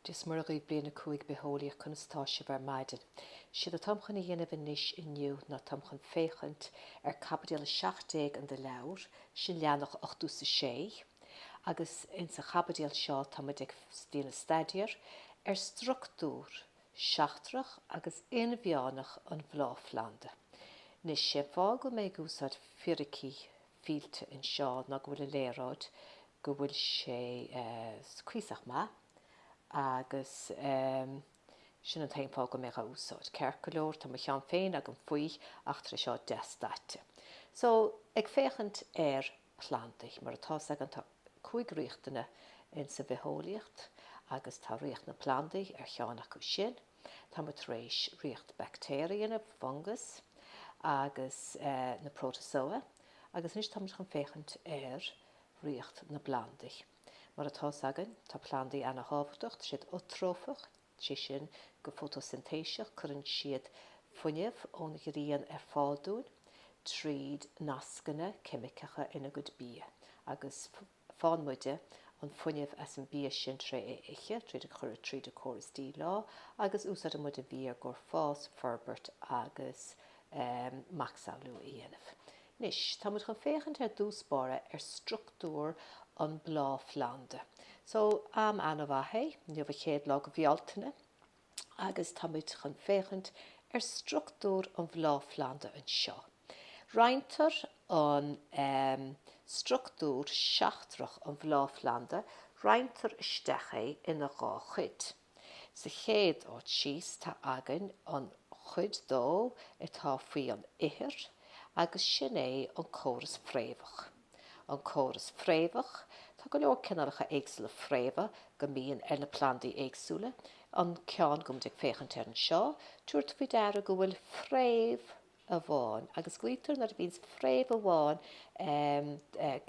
Dia is Muire daoibh bliain a cúig bitheolaíocht conas atá sibh ar maidin. 'Séard atáim chun a dhéanamh anois inniu ná táim chun féachaint ar caibidil 17 in do leabhar, sin leathnach 86, agus in sa chaibidil seo táimid ag déanamh staidéar ar structúr seachtrach agus inmheánach an bhláthphlanda. Anois, sé fáth go mbeidh mé ag úsáid Fíricí Fillte anseo ná go bhfuil an léaráid go bhfuil sé cuíosach maith agus sin an t-aon fáth go mbeidh mé á úsáid, ceart go leor. Tá mo cheann féin agam faoi ach tá sé seo deas daite. So, ag féachaint ar plandaí, mar atá's againn tá cúig ríocht ann insa bhitheolaíocht agus tá ríocht na bplandaí ar cheann acu sin. Tá muid tar éis ríocht baictéaraí, na fungas agus na protozoa agus anois tá muid chun féachaint ar ríocht na bplandaí. Mar atá 's againn, tá plandaí ana-thábhachtach, tá siad uatrófach, sé sin, go fótósintéiseach cuireann siad fuinneamh ón ghrian ar fáil dúinn tríd nascanna ceimiceacha ina gcuid bia agus, Faigheann muide an fuinneamh as an bia sin tré é ithe, tríd é a chur tríd an córas díleá agus úsáideann muid an bia i gcomhair fás, forbairt agus macsamhlú a dhéanamh. Anois, tá muid chun féachaint ar dtús báire ar structúr an bhláthphlanda. So, am ana mhaith é, inniu an chéad lá de Bhealtaine. agus táimid chun féachaint ar structúr an bhláthphlanda anseo. Roinntear an structúr seachtrach an bhláthphlanda, roinntear isteach é ina dhá chuid. Sa chéad áit thíos tá againn an chuid dó atá faoi an ithir agus sin é an córas fréamhach. An córas fréamhach, tá go leor cineálacha éagsúla fréamha go mbíonn ar na plandaí éagsúla. An ceann go bhfuil muid ag féachaint air anseo, tabhair faoi deara go bhfuil fréamh amháin, agus glaotar nuair a bhíonns fréamh amháin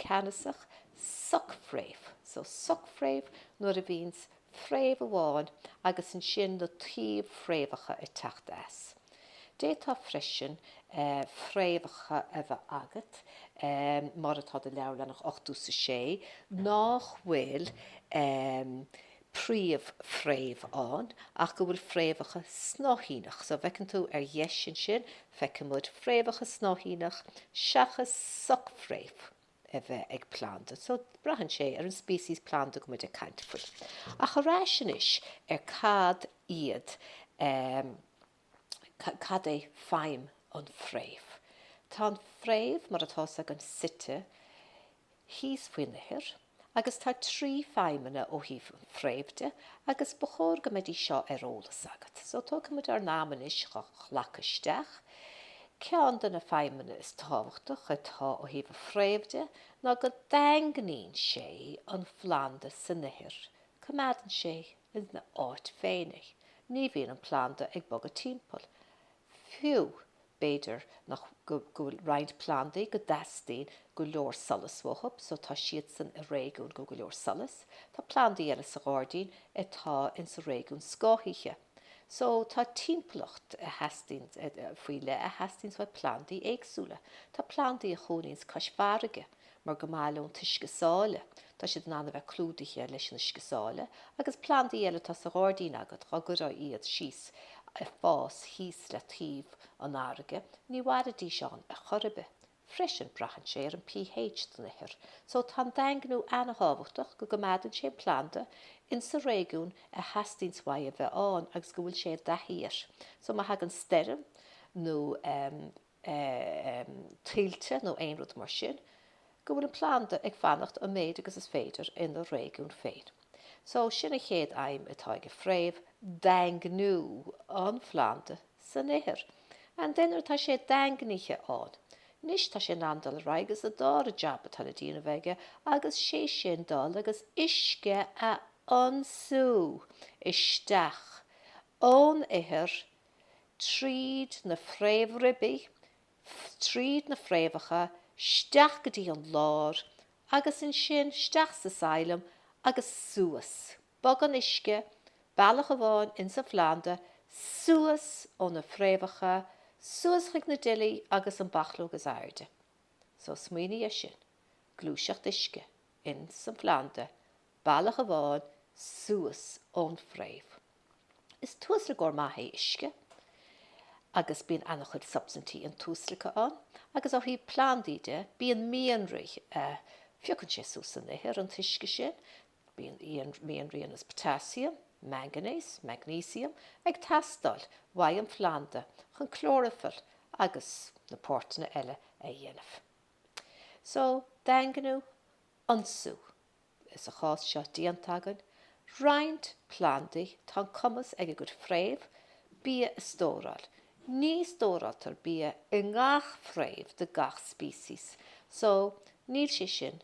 ceannasach, socfréamh. So socfréamh nuair a bhíonns fréamh amháin agus ansin na taobh-fhréamhacha ag teacht as. D'fhéadfá freisin fréamhacha a bheith agat, mar atá i do leabhar leathanach 86, nách bhfuil príomh-fhréamh ann ach go bhfuil fréamhacha snáithíneach. So, feiceann tú ar dheis ansin, feicimid fréamhacha snáithíneach seachas soc-fhréamh. a bheith ag planda, so braitheann sé ar an species planda go bhfuil muid ag caint faoi. Ach ar ais anois ar cad iad, cad é feidhm an phréimh. Tá an phréimh mar atá a fhios againn suite thíos faoin ithir agus tá trí feidhmeanna ó thaobh an phréimh de agus ba chóir go mbeidís seo ar eolas agat. So tógfaidh muid ár n-am anois go nglacadh isteach. Ceann de na feidhmeanna is tábhachtach atá ó thaobh an phréimh de ná go daingníonn sé an phlanda san ithir, coimeádann sé ina áit féin é, ní bhíonn an planda ag bogadh timpeall. Fiú, b'fhéidir nach, go bhfuil roinnt plandaí go dteastaíonn go leor solas uathu, so tá siadsan i réigiún go go leor solas, tá plandaí eile sa ghairdín atá insa réigiún scáthaithe. So tá timpeallacht a theastaíonns faoi leith a theastaíonns uaidh plandaí éagsúla. Tá plandaí a chónaíonns cois farraige mar go maith leo an t-uisce sáile, tá siad in ann a bheith clúdaithe leis an uisce sáile agus plandaí eile atá sa ghairdín agat dá gcuirfeá iad síos ag fás thíos le taobh an fharraige, ní mhairfidís ann ar chor ar bith. Freisin, braitheann sé ar an pH den ithir, so tá an daingniú an-thábhachtach go gcoimeádann sé an planda in sa réigiún a theastaíonns uaidh a bheith ann agus go bhfuil sé i dtaithí air. So má thagann stoirm nó tuilte nó aon rud mar sin, go bhfuil an planda ag fanacht an méid agus is féidir ina réigiún féin. So sin an chéad fheidhm atá ag an bhfréamh, daingniú an phlanda. san ithir. And then tá sé daingnithe ann. Anois tá sé in ann dul ar aghaidh agus an dara jab atá le déanamh aige agus sé sin dul agus uisce a ionsú isteach ón ithir tríd na fréamhribí, tríd na fréamhacha, isteach go dtí an lár agus ansin isteach sa xylem agus suas. Bogann uisce bealach amháin ins an phlanda suas ó na fréamhacha suas chuig na duillí agus an bhachlóg is airde. So smaoinigh ar sin, gluaiseacht uisce ins an phlanda bealach amháin suas ón fréamh. Is tuaslagóir maith é uisce agus bíonn an-chuid substaintí intuaslagtha ann agus ó thaobh plandaí de bíonn mianraí a phiocann sé suas san ithir, an t-uisce sin. Mianraí ar nós potassium, manganese, magnesium ag teastáil uaidh an phlanda chun clóraifill agus na páirteanna eile a dhéanamh. So, daingniú, ionsú is sa chás seo déanta againn, roinnt plandaí tá an cumas ag a gcuid fréamh bia a stóráil. Ní stóráiltear bia i ngach fréamh de gach species so níl sé sin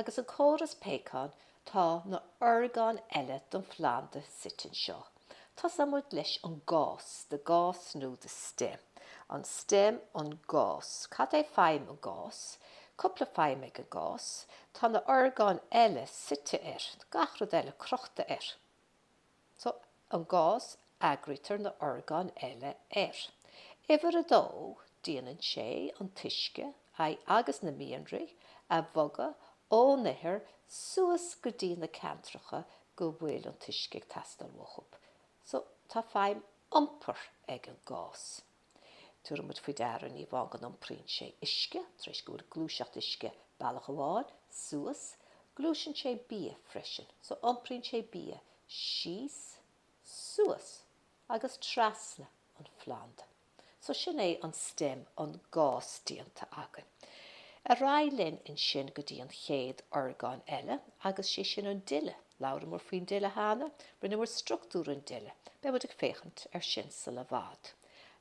Agus an córas péacán tá na horgáin eile don phlanda suite anseo. Tosóidh muid leis an gas, the gas nó the stem. An stem, an gas. Cad é feidhm an gas? Cúpla feidhm ag an gas. Tá na orgáin eile suite air, gach rud eile crochta air. So an gas eagraítear na horgáin eile air. Uimhir a dó, déanann sé an t-uisce, aidh agus na mianraí a bhogadh ón ithir suas go dtí na ceantracha go bhfuil an t-uisce ag teastáil uathu. So tá feidhm iompair ag an gas. Tabharfaidh muid faoi deara, ní amháin go n-iompraíonn sé uisce tar éis go bhfuil gluaiseacht uisce bealach amháin suas, gluaiseann sé bia freisin. So, iompraíonn sé bia síos, suas agus trasna an phlanda. So, sin é an stem, an gas déanta againn. Ar aghaidh linn ansin go dtí an chéad orgán eile agus sé sin an duille. Labhramar faoin duille cheana, rinneamar struchtúr an duille. Beidh muid ag féachaint ar sin sula bhfad.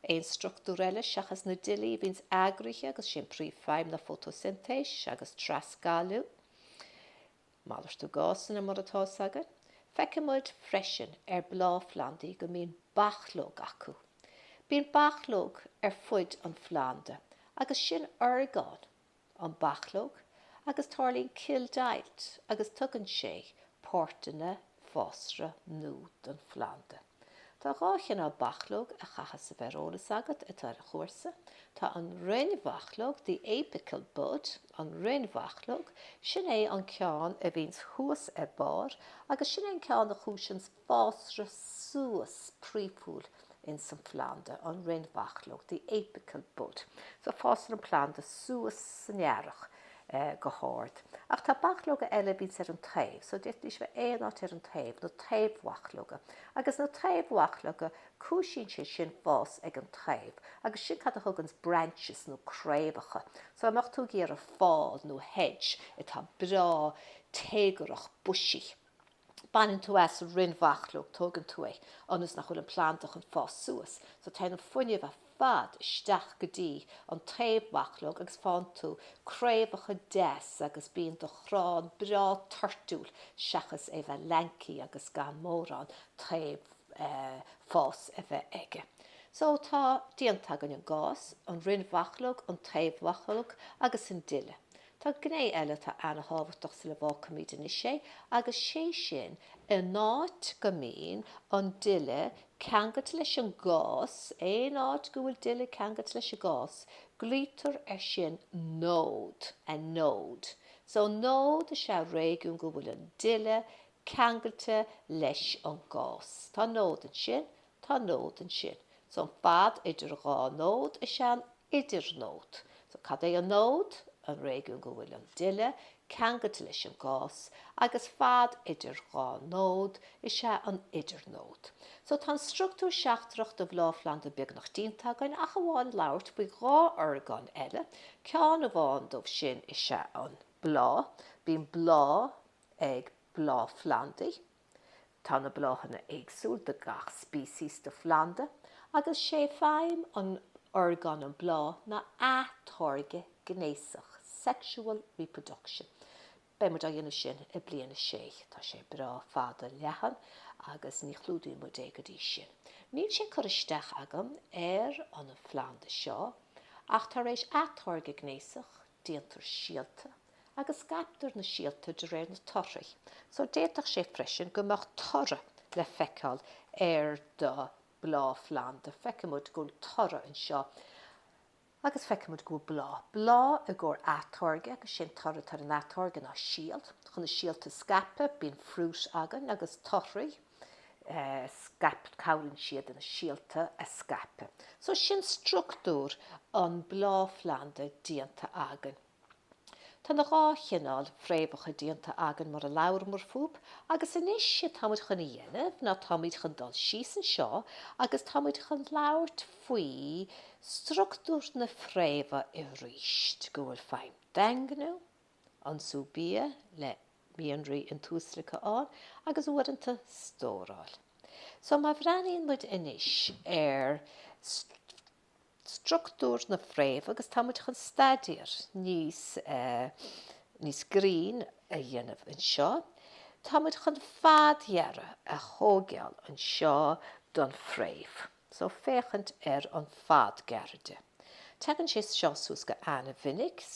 Aon struchtúr eile seachas na duillí a bhíonns eagraithe agus sé an príomhfheidhm ná fótósintéis agus trasgalú. Malartú gásanna mar atá fhios againn, feicfidh muid freisin ar bláthphlandaí go mbíonn bachlóg acu. Bíonn bachlóg ar fuid an phlanda agus sin orgán an bachlóg agus tarlaíonn cilldeighilt agus tugann sé páirteanna fásra nua don phlanda. Tá dhá chineál bachlóg a chaitheas a bheith ar eolas agat atá ar an chúrsa. Tá an rinnbhachlóg, the apical bud, an rinnbhachlóg, sin é an ceann a bhíonns thuas ar barr agus sin é an ceann a chúiseanns fásra suas príomhúil ins an phlanda an rinnbhachlóg, the apical bud. So fásann an planda suas san earrach go hard. Ach tá bachlóga eile a bhíonns ar an taobh, so d'fhéadfaidís a bheith aon áit ar an taobh, na taobh-bhachlóga. Agus na taobh-bhachlóga, cúisíonn sé sin fás ag an taobh. Agus sin cad a thuganns branches nó craobhacha. So dá mbeadh tú ag iarraidh fál nó hedge atá breá téagarach, bushy, Baineann tú as an rinnbhachlóg, tógann tú é ionas nach bhfuil an planda chun fás suas so téann an fuinneamh ar fad isteach go dtí an taobh-bhachlóg agus faigheann tú craobhacha deas agus bíonn do chrann breá toirtiúil seachas é bheith lanky agus gan mórán taobh fás a bheith aige. So tá déanta againn an gas, an rinnbhachlóg, an taobh-bhachlóg agus an duille. Tá gné eile atá ana-thábhachtach sula bhfágfaimid anois é agus sé sin, in áit go mbíonn an duille ceangailte leis an gas, aon áit go bhfuil duille ceangailte leis an gas, glaoitear ar sin nód, a node. So nód is ea réigiún go bhfuil an duille ceangailte leis an gas. Tá nód ansin Tá nód ansin. So an fad idir dhá nód is ea an idirnód. So cad é an nód? An réigiún go bhfuil an duille ceangailte leis an gas agus fad idir dhá nód is ea an idirnód. So tá an struchtúr seachtrach de bhláthphlanda beagnach déanta againn ach amháin labhairt faoi dhá orgán eile. Ceann amháin dóibh sin is ea an bláth. Bíonn bláth. ag bláthphlandaí. Tá na bláthanna éagsúil do gach species de phlanda agus 'sé feidhm an orgán an bláth ná atáirgeadh gnéasach, sexual reproduction. Beidh muid á dhéanamh sin i bliain a sé. Tá sé breá fada leathan agus ní chlúdóidh muid é go dtí sin. Níl sé curtha isteach agam ar an phlanda seo ach tar éis atáirgeadh gnéasach, Déantar síolta agus scaiptear na síolta de réir na torthaí so d'fhéadfadh sé freisin go mbeadh toradh le feiceáil ar do bhláthphlanda. Feicimid go bhfuil toradh anseo agus feicimid go bhfuil bláth. Bláth i gcomhair atáirgeadh agus sé'n toradh atá ar an atáirgeadh ná síolta. Chun na síolta a scaipeadh bíonn fruit againn agus torthaí. scaipeadh, cabhraíonn siad na síolta a scaipeadh. So sin struchtúr an bláthphlanda déanta againn. Tá na dhá chineál fréamhacha déanta againn mar a labhramar fúb agus anois sé táimid chun a dhéanamh ná táimid chun dul síos anseo agus táimid chun labhairt faoi struchtúr na fréimhe aríst go bhfuil feidhm daingniú Ionsú bia le mianraí intuaslagtha ann agus uaireanta stóráil. So má bhreathnaíonn muid anois ar struchtúr na fréamh agus tá muid chun staidéar níos níos grinn a dhéanamh anseo, tá muid chun fadghearradh a thóigeáil anseo don fréamh. So féachaint ar an fadghearradh de. Tagann sé seo suas go an-mhinic.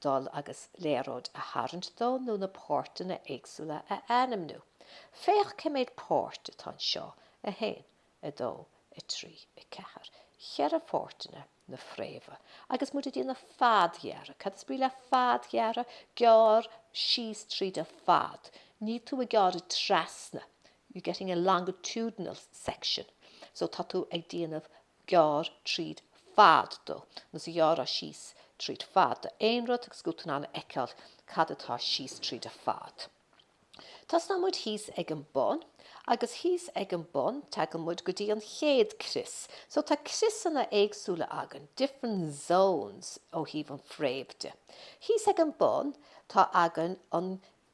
dul agus léaráid a tharraingt dó nó na páirteanna éagsúla a ainmniú. Féach cé méid páirt atá anseo, 1, 2, 3, 4. Cheithre pháirteanna na fréimhe. Agus muid ag déanamh fadghearradh, cad is brí le fadghearradh? Gearr síos tríd an fad, níl tú ag gearradh trasna, you're getting a longitudinal section, so tá tú ag déanamh gearr tríd fad dó, ar nós ag gearradh síos tríd fad do aon rud agus go bhfuil tú in ann a fheiceáil cad atá síos tríd a fad. Tosnann muid thíos ag an bun agus thíos ag an bun tagann muid go dtí an chéad crios. So tá criosanna éagsúla againn, different zones ó thaobh an fréamh de. Thíos ag an bun tá againn an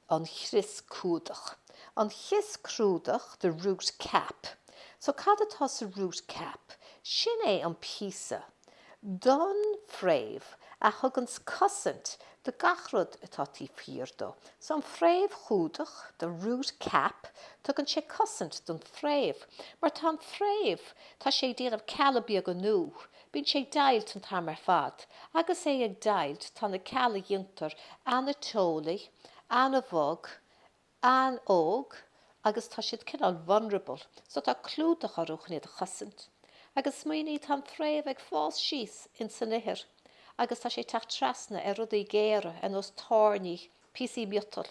an chrios cumhdach. An chrios cumhdach, the root cap. So cad atá sa root cap? Sin é an píosa don fréamh a thuganns cosaint do gach rud atá taobh thiar dó. So an fréamh chumhdach, the root cap, tugann sé cosaint don fréamh. Mar tá an fréamh, tá sé ag déanamh cealla beaga nua. Bíonn sé ag deighilt an t-am ar fad. Agus é ag deighilt tá na cealla a dhéantar an-teolaí, an-bhog, an-óg agus tá siad cineál vulnerable so tá clúdach orthu chun iad a chosaint. Agus smaoinigh, tá an fréamh ag fás síos in san ithir agus tá sé ag teacht trasna ar rudaí géara ar nós tairní, píosaí miotal.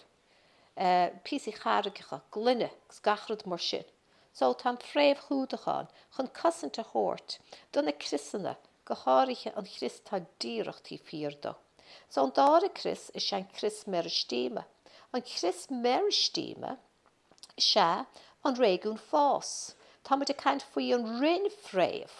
píosaí charraigeacha, gloine, agus gach rud mar sin. So, tá an fréamh chumhdach ann chun cosaint a thabhairt do na criosanna, go háirithe an chrios atá díreach taobh thiar dó. So, an dara crios is ea an crios meiristíme. An crios meiristíme is ea an réigiún fás. Táimid ag caint faoi an rinn fréamh.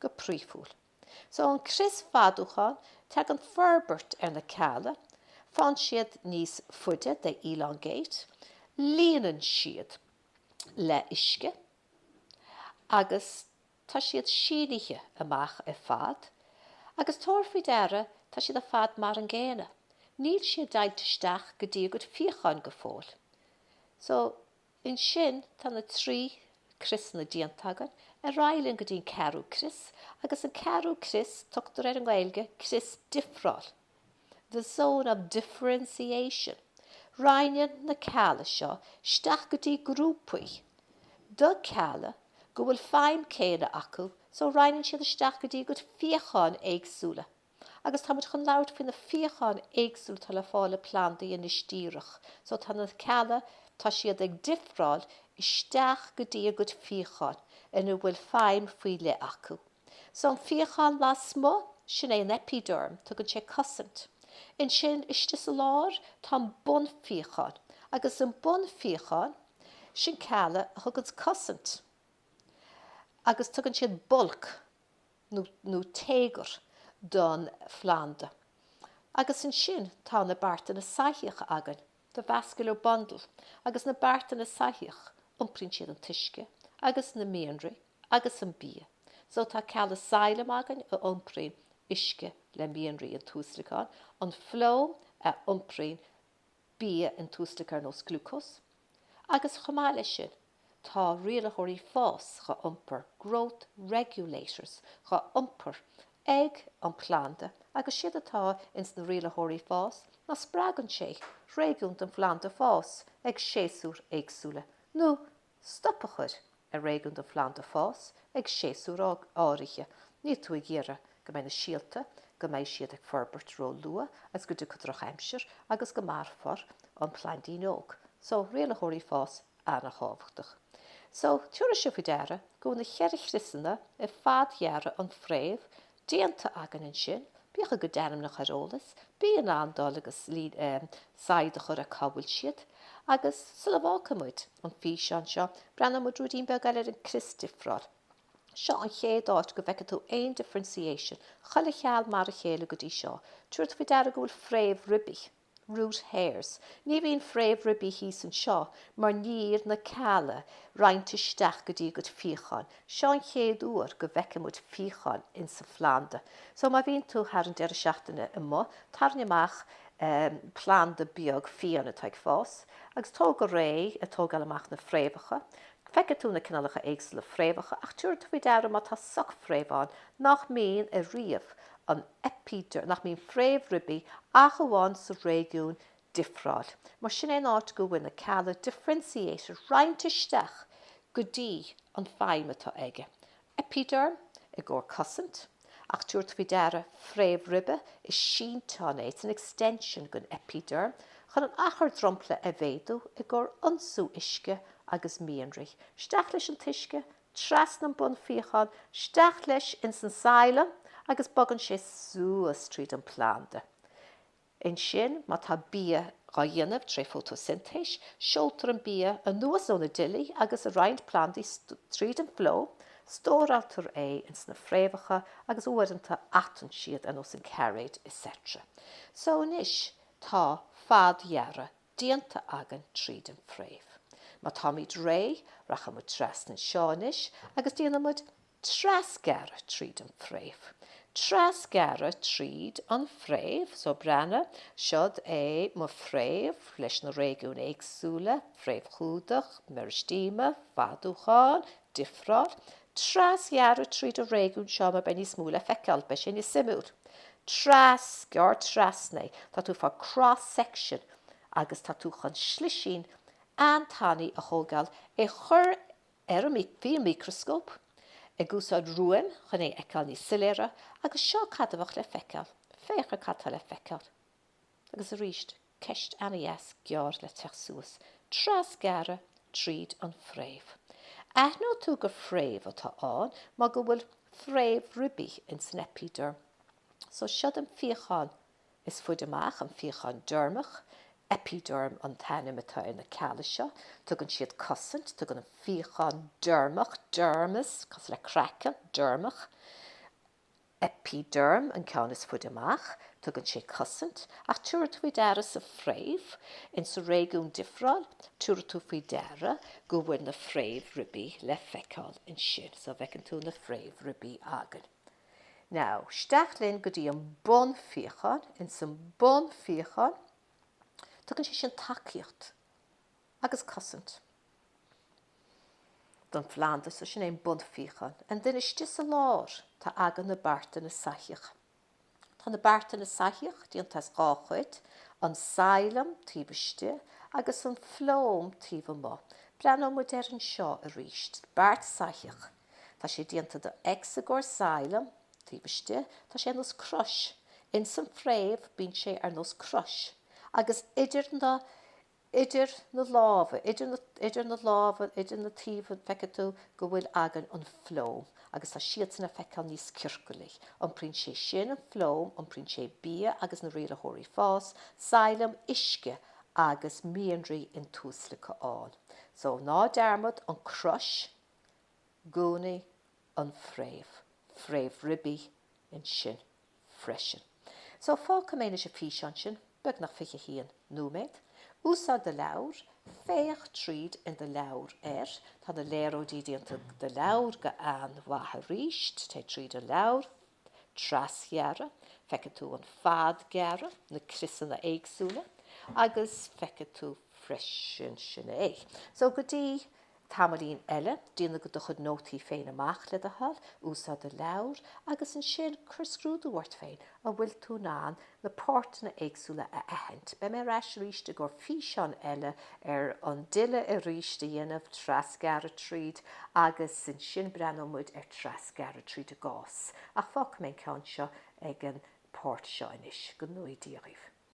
go príomhúil. So an crios fadúcháin tagann forbairt ar na cealla, faigheann siad níos faide, they elongate, líonann siad le uisce agus tá siad sínithe amach ar fad agus tabhair faoi deara tá siad ar fad mar an gcéanna, níl siad deighilt isteach go dtí a gcuid fíocháin go fóill. So. Ansin tá na trí criosanna déanta againn, ar aghaidh linn go dtí an ceathrú crios, agus an ceathrú crios, tugtar air i nGaeilge crios difreáil, the zone of differentiation. Roinneann na cealla seo isteach go dtí grúpaí de cealla go bhfuil feidhm céanna acu, so roinneann siad isteach go dtí a gcuid fíocháin éagsúla. Agus tá muid chun labhairt faoi na fíocháin éagsúla atá le fáil i plandaí anois díreach. So tá na cealla, tá siad ag difreáil isteach go dtí a gcuid fíocháin ina bhfuil feidhm faoi leith acu. So an fíochán lasmuigh, sin é an epiderm, tugann sé cosaint. Ansin istigh sa lár, tá an bunfhíochán. Agus an bunfhíochán, sin cealla a thugann cosaint. Agus tugann siad bulk. nó téagar don phlanda agus ansin tá na beartanna soithíocha againn, the vascular bundle, agus na beartanna soithíocha iompraíonn siad an t-uisce agus na mianraí agus an bia so tá cealla xiléim againn a iompraíonn uisce le mianraí i dtuaslagán, an flóem, a iompraíonn bia intuaslagtha ar nós glucose, agus chomh maith leis sin, tá rialaitheoirí fáis dhá iompar, growth regulators, dhá iompar ag an planda agus séard atá ins na rialaitheoirí fáis ná spreagann sé réigiún den phlanda fás ag séasúir éagsúla nó stop a chur ar réigiún den phlanda fás ag séasúr áirithe, níl tú ag iarraidh go mbeidh na síolta, go mbeidh siad ag forbairt ró-luath agus go dtiocfaidh drochaimsir agus go marófar an plaindín óg. So, rialaitheoirí fáis an-thábhachtach. So, tabharfaidh sibh faoi deara go bhfuil na cheithre chriosanna ar fad dheireadh an fhréamh déanta againn ansin, bíodh a gcuid ainmneacha ar eolas, bí in ann dul agus saighead a chur ar cá bhfuil siad. Agus sula bhfágfaidh muid an físeán seo, breathnóidh muid ruidín beag eile ar an crios difreáil. Seo an chéad áit go bhfeicfidh tú aon differentiation, chuile cheall mar a chéile go dtí seo. Tabhair faoi deara go bhfuil fréamhribí. Root hairs. Ní bhíonn fréamhribí thíos anseo mar níl na cealla roinnte isteach go dtí a gcuid fíocháin. Seo an chéad uair go bhfeicfidh muid fíocháin ins an phlanda. So má bhíonn tú thar an deireadh seachtaine amuigh, tarraing amach planda beag fiáin atá ag fás agus tóg go réidh ag tógáil amach na fréamhacha. Feicfidh tú na cineálacha éagsúla fréamhacha ach tabharfaidh tú faoi deara má tá socfhréamh ann nach mbíonn ariamh an epiderm, nach mbíonn fréamhribí ach amháin sa réigiún difreáil. Mar sin é an áit go bhfuil na cealla differentiated roinnte isteach go dtí an feidhm atá aige, epiderm i gcomhair cosaint, ach tabhair faoi deara fréamhribe, is sínteán é, it's an extension den epiderm, chun an achar dromchla a mhéadú i gcomhair ionsú uisce agus mianraí. Isteach leis an t-uisce Trasna an bunfíochán, steach leis ins an xylem agus bogann sé suas tríd an planda. Ansin má tá bia dhá dhéanamh tré fótósintéis, seoltar an bia anuas ó na duillí agus i roinnt plandaí tríd an phloem, stóráiltear é ins na fréamhacha agus uaireanta atann siad ar nós an cairéid, etc. So anois tá fadghearradh déanta againn tríd an fréamh. Má táimid réidh, rachaidh muid trasna anseo anois agus déanfaidh muid trasghearradh tríd an fréamh. Trasghearradh tríd an fréamh, so breathnaigh, siod é mo fréamh leis na réigiúin éagsúla, fréamhchumhdach, meiristéama, fadúcháin, difreáil, trasghearradh tríd an réigiún seo mar beidh níos mó le feiceáil, beidh sé níos suimiúil. Tras, gearr trasna é, tá tú ag fáil cross section agus tá tú chun slisín an-tanaí a thógáil, é chur ar, faoi micreascóp, ag úsáid ruaim chun é a fheiceáil níos soiléire agus seo cad a bheadh le feiceáil, féach ar cad tá le feiceáil. Agus arís, ceist an-dheas gearr le teacht suas, trasghearradh tríd an fréamh. Aithneoidh tú gur fréamh atá ann mar go bhfuil fréamhribí in san eipideirm. So, siod an fíochán is faide amach, an fíochán deirmeach. Eipideirm an t-ainm atá ar na cealla seo. Tugann siad cosaint, tugann an fíochán deirmeach, dermis, cosúil le craiceann, deirmeach. eipideirm an ceann is faide amach. Tugann sé cosaint, ach tiúrfaidh tú faoi deara sa fréamh, in sa réigiún difreáil, tiúrfaidh tú faoi deara go bhfuil na fréamhribí le feiceáil ansin. So, feiceann tú na fréamhribí againn. Now, steach linn go dtí an bunfíochán, in san bunfíochán, tugann sé sin tacaíocht agus cosaint don phlanda so sin é an bunfíochán. An duine istigh sa lár, tá againn na beartanna soithíoch. Tá na beartanna soithíoch déanta as dhá chuid, an xylem taobh istigh agus an phloem taobh amuigh. Breathnóidh muid air anseo arís. Beart soithíoch. Tá sé déanta de X i gcomhair xylem taobh istigh. Tá sé ar nós crois. Ins an fréamh bíonn sé ar nós crois. Agus idir na idir na lámha, idir na, idir na lámha, idir na taobhanna, feicfidh tú go bhfuil againn an phloem agus tá siadsan le feiceáil níos ciorcalaí. Iompraíonn sé sin an phloem, iompraíonn sé bia agus na rialaitheoirí fás, xylem, uisce agus mianraí intuaslagtha a fháil. So, ná dearmad, an crois, i gcónaí, an fréamh, fréamhribí ansin. freisin. So, fágfaidh mé anois an físeán sin, beagnach fiche haon nóiméad. Úsáid do leabhar, féach tríd i do leabhar air. Tá na léaráidí déanta i do leabhar go han-mhaith arís. Téigh tríd an leabhar. Trasghearradh. Feicfidh tú an fadghearradh, na criosanna éagsúla. Agus feicfidh tú freisin, sin é. So, go dtí. Tamaillín eile, déan do chuid nótaí féin amach, le do thoil, úsáid do leabhar, agus ansin cuir scrúdú ort féin, an bhfuil tú in ann na páirteanna éagsúla a aithint. Beidh mé ar ais arís i gcomhair físeán eile ar an duille arís a dhéanamh, trasghearradh tríd, agus ansin breathnóidh muid ar trasghearradh tríd an ngas. Ach fágfaidh mé an ceann seo ag an páirt seo anois. Go ngnóthaí Dia dhaoibh.